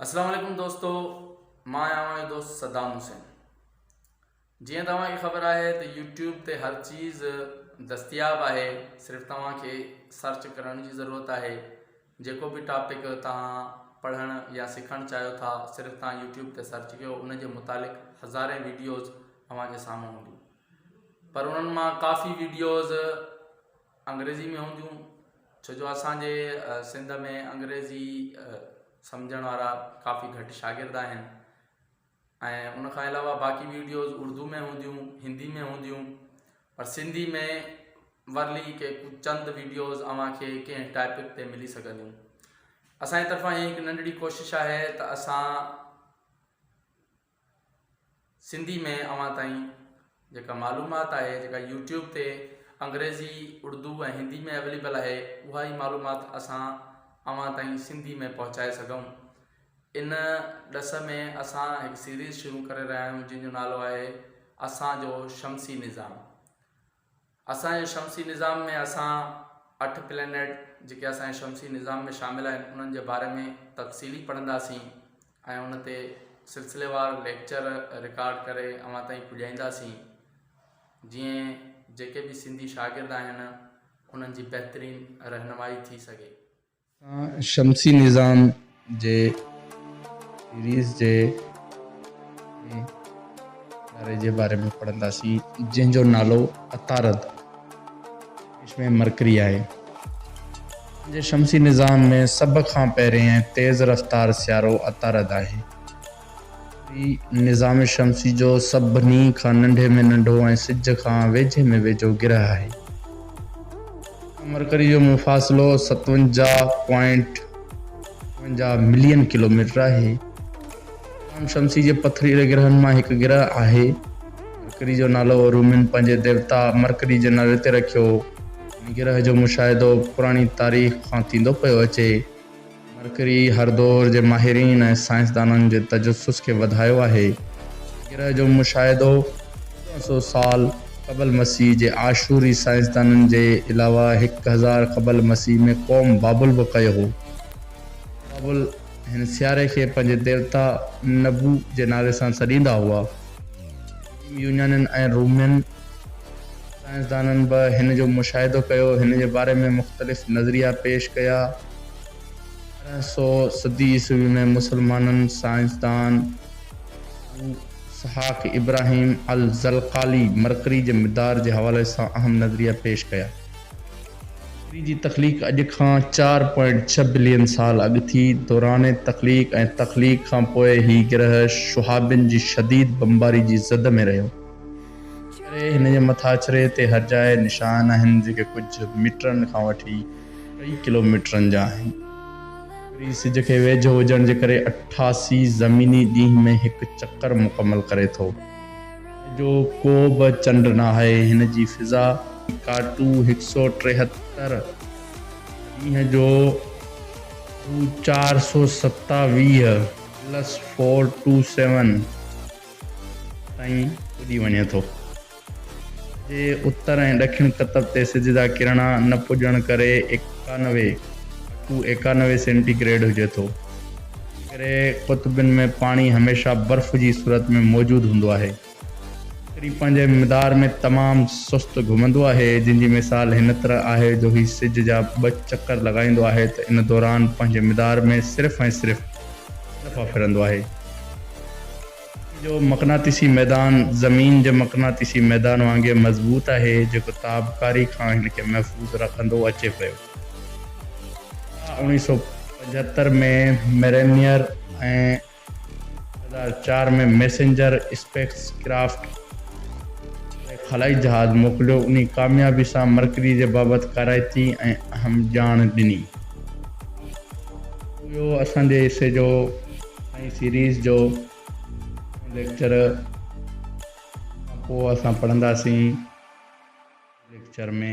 السلام عليڪم دوستو مان آهيان اوهان جو دوست صدام حسين جيئن توهان کي خبر آهي ته يوٽيوب تي هر چيز دستياب آهي صرف توهان کي سرچ ڪرڻ جي ضرورت آهي جيڪو به ٽاپڪ توهان پڙهڻ يا سکڻ چاهيو ٿا صرف توهان يوٽيوب تي سرچ ڪيو ان جي متعلق هزارين ويڊيوز اوهان جي سامهون هونديون پر انهن مان ڪافي ويڊيوز انگريزي ۾ هونديون ڇو جو اسان جي سنڌ ۾ انگريزي سمجهڻ وارا ڪافي گهٽ شاگرد آهن ۽ ان کان علاوه باقي ويڊيوز اردو ۾ هونديون هندي ۾ هونديون پر سنڌي ۾ ورلي ڪي چند ويڊيوز اوهان کي ڪنهن ٽاپڪ تي ملي سگهنديون اسان جي طرفان هي هڪ ننڍڙي ڪوشش آهي ته اسان سنڌي ۾ اوهان تائين جيڪا معلومات آهي جيڪا يوٽيوب تي انگريزي اڙدو ۽ هندي ۾ اويليبل آهي اها ئي معلومات اسان اوهان تائين سنڌي ۾ پهچائي سگهون ان ڏس ۾ اسان هڪ سيريز شروع ڪري رهيا آهيون جنهن جو نالو آهي اسان جو شمسي نظام اسان جي شمسي نظام ۾ اسان اٺ پلينيٽ جيڪي اسان جي شمسي نظام ۾ شامل آهن انهن جي باري ۾ تفصيلي پڙهنداسين ۽ ان تي سلسليوار ليڪچر رڪارڊ ڪري اوهان تائين پڄائينداسين جيئن جيڪي به سنڌي شاگرد آهن انهن جي بهترين رهنمائي ٿي سگهي اسان شمسي نظام جي سيريز جي ٻئي تاري جي باري ۾ پڙهنداسين جنهن جو نالو عطارد انگلش ۾ مرڪري آهي. اسان جي شمسي نظام ۾ سڀ کان پهرين ۽ تيز رفتار سيارو عطارد آهي. وري نظام شمسي جو سڀني کان ننڍي ۾ ننڍو ۽ سج کان ويجهي ۾ ويجهو گرهه آهي. ان مرڪري جو مفاصلو ستونجاهه پوائنٽ اڻونجاهه ملين ڪلوميٽر آهي. نظام شمسي جي پٿريلي گرهن مان هڪ گرهه آهي. مرڪري جو نالو رومين پنهنجي ديوتا مرڪري جي نالي تي رکيو. هن گرهه جو مشاهدو پراڻي تاريخ کان ٿيندو پيو اچي. مرڪري هر دور جي ماهرين ۽ سائنسدانن جي تجسس کي وڌايو آهي. گرهه جو مشاهدو چوڏهن سؤ سال قبل مسيح جي آشوري سائنسدانن جي علاوه هڪ هزار قبل مسيح ۾ قوم بابل به ڪيو هو. بابل هن سياري کي پنهنجي ديوتا نبو جي نالي سان سڏيندا هئا. قديم يونانين ۽ رومين سائنسدانن به هن جو مشاهدو ڪيو، هن جي باري ۾ مختلف نظريا پيش ڪيا. ارڙهن سئو صدي عيسوي ۾ مسلمانن سائنسدان ابو اسحاق ابراهيم الزلقالي مرڪري جي مدار جي حوالي سان اهم نظريا پيش ڪيا. مرڪري جي تخليق اڄ کان چار پوائنٽ ڇهه بلين سال اڳ ٿي. دوران تخليق ۽ تخليق کان پوء هي گرهه شهابين جي شديد بمباري جي زد ۾ رهيو. ان ڪري هن جي مٿاڇري تي هرجاء نشان آهن جيڪي ڪجهه ميٽرن کان وٺي ٽي ڪلوميٽرن جا آهن. وري سج کي ويجهو هجڻ جي ڪري اٺاسي زميني ڏينهن ۾ هڪ چڪر مڪمل ڪري ٿو. هن جو ڪو به چنڊ ناهي. هن جي فضا ڪاٽو هڪ سؤ ٽيهتر ڏينهن جو ڊو چار سؤ ستاويهه پلس فور ٽو سيون تائين اڏي وڃي ٿو. جي اتر ۽ ڏکڻ قطب تي سج جا ڪرڻا نه پڄڻ ڪري ايڪانوي، اڪو ايڪانوي، سينٽي گريڊ هجي ٿو. ان ڪري قطبن ۾ پاڻي هميشه برف جي صورت ۾ موجود هوندو آهي. ڪڪري پنهنجي مدار ۾ تمام سست گهمندو آهي، جنهن جي مثال هن طرح آهي جو هي سج جا ٻه چڪر لڳائيندو آهي ته ان دوران پنهنجي مدار ۾ صرف ۽ صرف ٻه دفعا ڦرندو آهي. جو مقناطيسي ميدان زمين جي مقناطيسي ميدان وانگي مضبوط آهي، جيڪو تابڪاري کان هن کي محفوظ رکندو اچي پيو. اها اوڻيهه سؤ پنجهتر ۾ مرينيئر ۽ ٻه هزار چار ۾ ميسنجر اسپيس ڪرافٽ واري خلائي جهاز موڪليو، انهي ڪاميابي سان مرڪري جي بابت ڪارائتي ۽ اهم ڄاڻ ڏني. اهو اسان جي حصي جو. ۽ سيريز جو ٻيون ليڪچر کان پوء اسان پڙهنداسين. ليڪچر ۾.